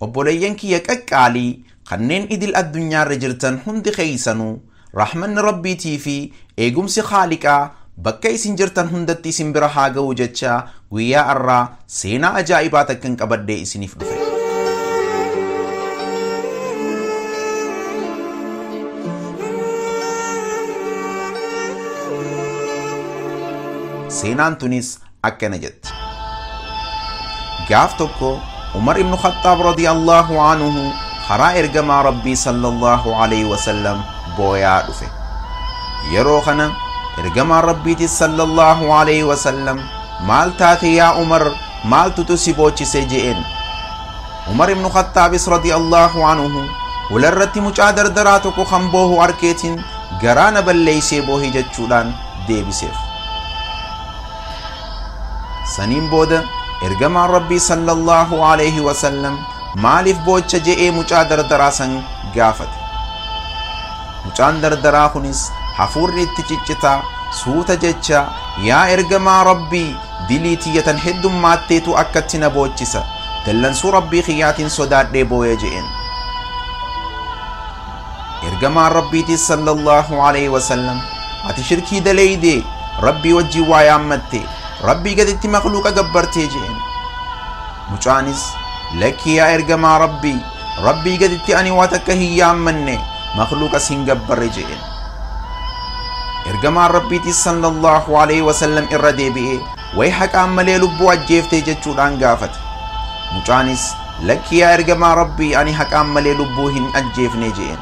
Obboleeyyan kiyya qaqqaalii kanneen idil addunyaarra jirtan hundi keessanuu rahmanni Rabbiitii fi eegumsi Khaaliqaa bakka isin jirtan hundatti isin bira haa ga'u jechaa guyyaa arraa seenaa ajaa'ibaa takkan qabadhee isiniif dhufe. Seenaan tunis akkana jetti. Gaaf tokko Umar ibnu Khaxxaab radiyallahu anhu karaa ergamaa Rabbii sallallahu alaihi wasallam booyaa dhufe. Yeroo kana ergamaa Rabbiitis sallallahu alaihi wasallam maal taate yaa Umar maaltutu si boochise je'een. Umar ibnu Khaxxaabis radiyallahu anhu hularratti mucaa dardaraa tokko kan boohu arkeetiin garaa na balleeysee boohi jechuudhaan deebiseef. saniin booda ergamaan rabbii sallallahu alayhi wasallam maaliif boocha je'ee mucaa dardaraa san gaafate mucaan dardaraa kunis hafuurri itti ciccitaa suuta jecha yaa ergamaa rabbii dilii tiyyatan heddummaatteetu akkatti na boochisa dallansuu rabbii kiyyaatiin sodaadhee booyee je'een ergamaan rabbiitis sallallahu alaihi wasallam ati shirkii daleeyde rabbii wajjin waa yaammatte rabbii gaditti makluuqa gabbartee jeen mucaanis lakkii yaa ergamaa rabbii rabbii gaditti ani waa takka hin yaammanne makluuqas hin gabbarre jeen ergamaan rabbiitis sallallahu alaihi wasallam irra deebi'ee Way haqaan malee lubbuu ajjeeftee jechuudhaan gaafate. Mucaanis lakkii yaa ergamaa Rabbii ani haqaan malee lubbuu hin ajjeefne je'een.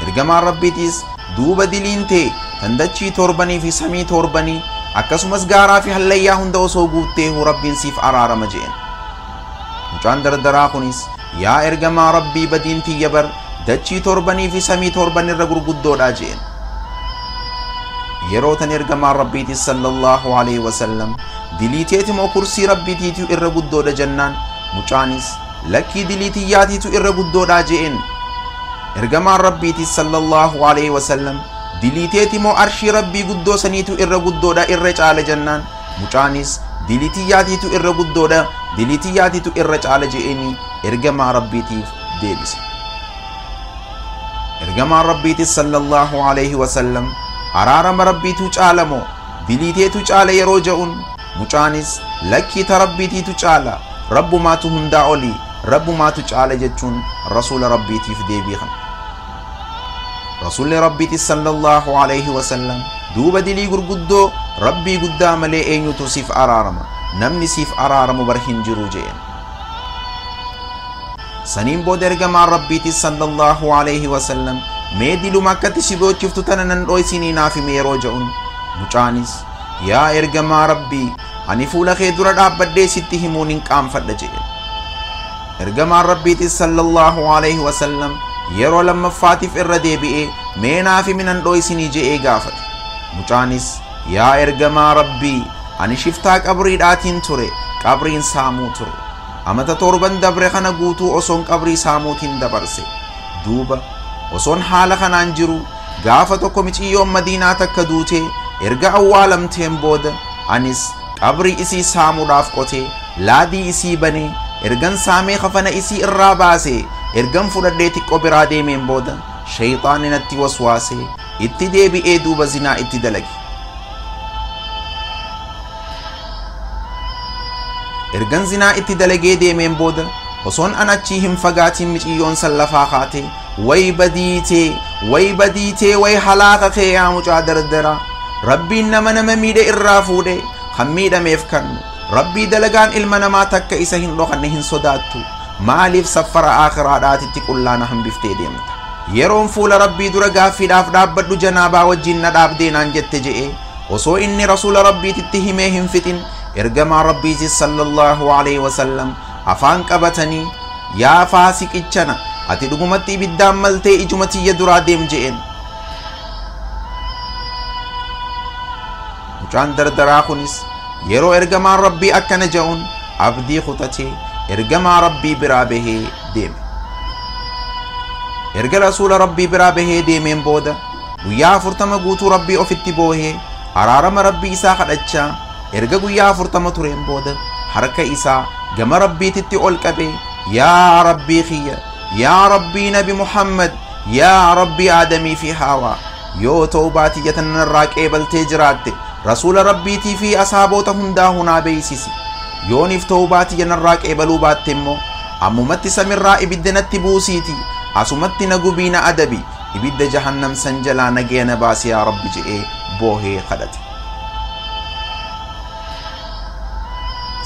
Ergamaan Rabbiitiis duuba diliin tee tan dachii toorbanii fi samii toorbanii akkasumas gaaraa fi hallayyaa hunda osoo guutteehu Rabbiin siif araarama je'een. Mucaan dardaraa kunis Yaa ergamaa Rabbii badiin tiyya bar dachii torbanii fi samii torban irra gurguddoodha jeen. Yeroo tan ergamaan Rabbiitis sallallahu alaihi wasallam dilii teetimoo kursii Rabbiitiitu irra guddoodha jennaan mucaanis lakkii dilii tiyyaatiitu irra guddoodha jeen. Ergamaan Rabbiitis sallallahu alaihi wasallam dilii teetimoo arshii Rabbii guddoo saniitu irra guddoodha irra caala jennaan Mucaanis dilii tiyyaatiitu irra guddoodha, dilii tiyyaatiitu irra caala je'eenii ergamaa Rabbiitiif deebise. Ergamaan Rabbiitis sallallahu alayhi wasallam araarama Rabbiitu caala moo dilii teetu caala yeroo ja'un mucaanis lakkii ta Rabbiitiitu caala Rabbumaatu hundaa olii Rabbumaatu caala jechuun Rasuula Rabbiitiif deebii kana. Rasuulli Rabbiiti sallallahu alayhi wasallam duuba dilii gurguddoo Rabbii guddaa malee eenyutu siif araarama namni siif araaramu bar hin jiru jeen. Saniin booda ergamaan Rabbiiti sallallahu alayhi wasallam mee diluma akkatti si dhochiftu tana nan dhoysinii naaf himi yeroo ja'un mucaanis yaa ergamaa Rabbii ani fuula kee dura dhaabbadhee sitti himuun hin qaanfadha jeen. Ergamaan Rabbiitis sallallahu alayhi wasallam yeroo lammaffaatiif irra deebi'ee mee naaf himi nan dhooysinii je'ee gaafate. Mucaanis yaa ergamaa Rabbii ani shiftaa qabriidhaatiin ture qabriin saamuu ture. Amata torban dabre kana guutuu osoon qabrii saamuutiin dabarse. Duuba osoon haala kanaan jiru gaafa tokko miciyyoon madiinaa takka duutee erga awwaalamteen booda anis qabrii isii saamuudhaaf qotee laadii isii banee ergan saamee kafana isii irraa baasee ergan fudhadhee xiqqoo biraa deemeen booda shayxaanni natti waswaasee itti deebi'ee duuba zinaa itti dalage ergan zinaa itti dalagee deemeen booda osoon an achii hin fagaatiin miciyyoon san lafaa kaatee Way badii tee way badii tee way halaaka kee yaa mucaa dardara rabbiin nama nama miidhe irraa fuudhe kan miidhameef kannu rabbii dalagaan ilma namaa takka isa hin dhokanne hin sodaattu maaliif saffara aakiraadhaatitti qullaana hambiftee deemta yeroon fuula rabbii dura gaaffiidhaaf dhaabbadhu janaabaa wajjiin na dhaabdee naan jette je'e osoo inni rasuula rabbiititti himee hin fixin ergamaa rabbiitis sallallahu alaihi wasallam afaan qabatanii, Yaa faasiqichana, ati dhugumatti ibiddaan maltee ijuma tiyya duraa deem je'een. Mucaan dardaraa kunis yeroo ergamaan Rabbii akkana ja'uun abdii kutatee ergamaa Rabbii biraa bahee deeme. Erga rasuula Rabbii biraa bahee deemeen booda guyyaa afurtama guutuu Rabbii ofitti boohee araarama Rabbii isaa kadhachaa Erga guyyaa afurtama tureen booda harka isaa gama Rabbiititti ol qabee yaa Rabbii kiyya yaa Rabbii Nabi Muhammad yaa Rabbii Aadamii fi Haawaa yoo toobaa tiyya tanarraa qeebaltee jiraatte rasuula Rabbiitii fi asaaboota hundaa hunaa beeysisi yooniif toobaa tiyya narraa qeebaluu baatte immoo ammumatti samirraa ibidda natti buusiiti asumatti na gubii na adabi ibidda jahannam san jalaa nagaya na baasi yaa Rabbi je'ee boohee kadhate.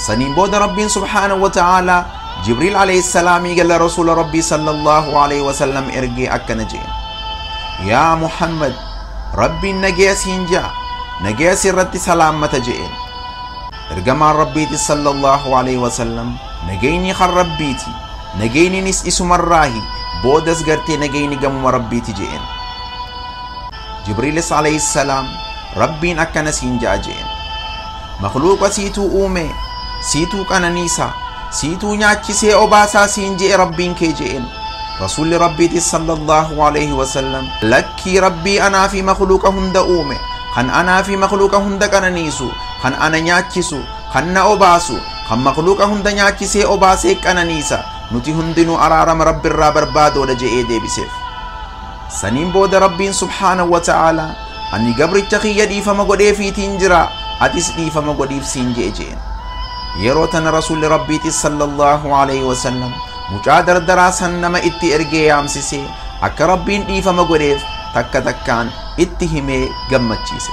saniin booda rabbiin subhaanahu wa ta'aalaa jibriil alayhi salaamii gala rasuula rabbii sallallahu alayhi wasallam ergee akkana jeen yaa muhammad rabbiin nagaya siin ja'a nagaya sirratti salaammata jeen ergamaan rabbiiti sallallahu alayhi wasallam nagayni kan rabbiiti nagayninis isumarraahi boodas gartee nagayni gamuma rabbiiti jeen Jibriilis alayhissalaam Rabbiin akkana siin ja'a je'een. Makluuqa siituu uumee, siituu qananiisaa, siituu nyaachisee obaasaa siin je'e Rabbiin kee je'een. Rasuulli Rabbiitis sallallahu alayhi wasallam lakkii Rabbii anaa fi makluuqa hunda uume, kan anaa fi makluuqa hunda qananiisu, kan ana nyaachisu, kan na obaasu, kan makluuqa hunda nyaachisee obaasee qananiisa, nuti hundinuu araarama Rabbirraa barbaadoodha je'ee deebiseef. Saniin booda Rabbiin subhaanahu wa ta'aala ani gabricha kiyya dhiifama godheefiitiin jira atis dhiifama godhiif siin je'e je'een. Yeroo tana Rasuulli Rabbiitis sallallahu alayhi wa sallam mucaa dardaraa san nama itti ergee yaamsisee akka Rabbiin dhiifama godheef takka takkaan itti himee gammachiise.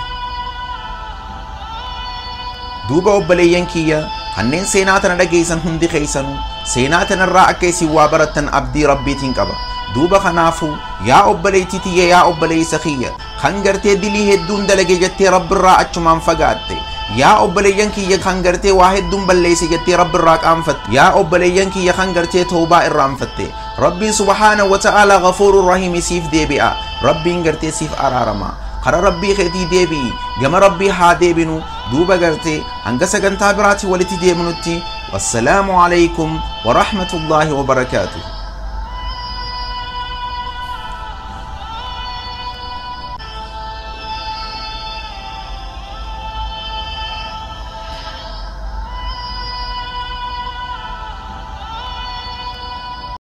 Duuba obboleeyyan kiyya kanneen seenaa tana dhageeysan hundi keeysanu seenaa tanarraa akka isin waa barattan abdii rabbiitiin qaba duuba kanaafu yaa obboleeytii tiyya yaa obboleeysa kiyya kan gartee dilii hedduun dalage jettee rabbirraa achumaan fagaatte yaa obboleeyyan kiyya kan gartee waa hedduun balleeyse jettee rabbirraa qaanfatte yaa obboleeyyan kiyya kan gartee tawbaa irraanfatte Rabbiin subhaanahu wa ta'aalaa ghafuurun rahiimi siif deebi'a. Rabbiin gartee siif araarama. Kara Rabbii keetii deebi'i. Gama Rabbii haa deebinu. Duuba gartee hanga sagantaa biraatiin walitti deebinutti wassalaamu alaykum wa rahmatullaahi wa barakaatuh.